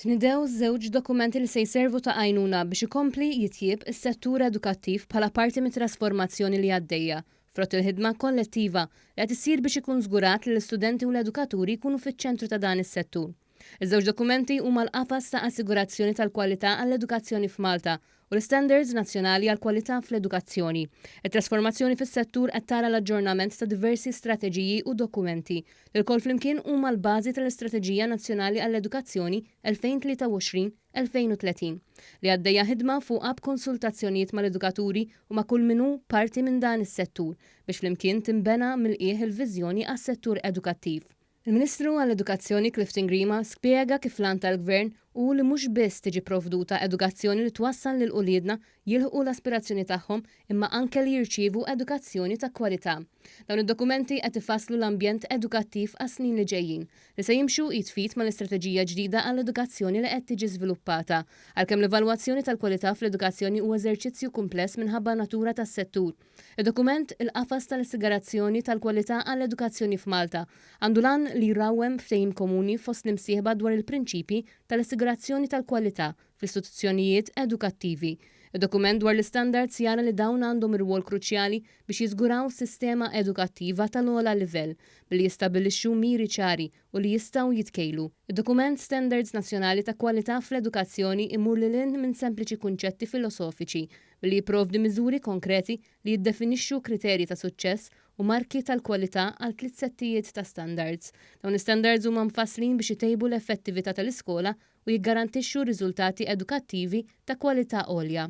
Tnidew żewġ dokumenti li se jservu ta' għajnuna biex ikompli jitjieb is-settur edukattiv bħala parti mit-trasformazzjoni li għaddejja, frott il-ħidma kollettiva li qed issir biex ikun żgurat li l-istudenti u l-edukaturi jkunu fiċ-ċentru ta' dan is-settur. Iż-żewġ dokumenti huma l-Qafas ta' Assigurazzjoni tal-Kwalità għall-Edukazzjoni f'Malta u l-istandards nazzjonali għall-kwalità fl-edukazzjoni. It-trasformazzjoni fis-settur qed tara l-aġġornament ta' diversi strateġiji u dokumenti, li lkoll flimkien huma l-bażi tal-Istrateġija Nazzjonali għall-Edukazzjoni 2023-2030, li għaddejja ħidma fuqha b'konsultazzjonijiet mal-edukaturi u ma' kull min hu parti minn dan is-settur, biex flimkien tinbena mill-qiegħ il-viżjoni għas-settur edukattiv. Il-Ministru għall-Edukazzjoni Clifton Grima spjega kif l-għan tal-Gvern hu li mhux biss tiġi pprovduta edukazzjoni li twassal lil uliedna jilħqu l-aspirazzjoni tagħhom imma anke li jirċievu edukazzjoni ta' kwalità. Dawn id-dokumenti qed ifasslu l-ambjent edukattiv għas-snin li ġejjin li se jimxu id f'id mal-istrateġija ġdida għall-edukazzjoni li qed tiġi żviluppata. Għalkemm l-evalwazzjoni tal-kwalità fl-edukazzjoni hu eżerċizzju kumpless minħabba n-natura tas-settur, Id-dokument Il-Qafas tal-Assigarazzjoni tal-Kwalità għall-Edukazzjoni f'Malta għandu l-għan li jrawwem ftehim komuni fost l-imsieħba dwar il-prinċipji tal-assigurazzjoni tal-kwalità fl-istituzzjonijiet edukattivi. Id-dokument dwar l-istandards jara li dawn għandhom irwol kruċjali biex jiżguraw sistema edukattiva tal-ogħla livell billi jistabbilixxu miri ċari u li jistgħu jitkejlu. Id-dokument Standards Nazzjonali ta' Kwalità fl-Edukazzjoni jmur lil hinn minn sempliċi kunċetti filosofiċi billi jipprovdi miżuri konkreti li jiddefinixxu kriterji ta' suċċess u marki tal-kwalità għal tliet settijiet ta' standards. Dawn l-istandards huma mfasslin biex itejbu l-effettività tal-iskola u jiggarantixxu riżultati edukattivi ta' kwalità għolja.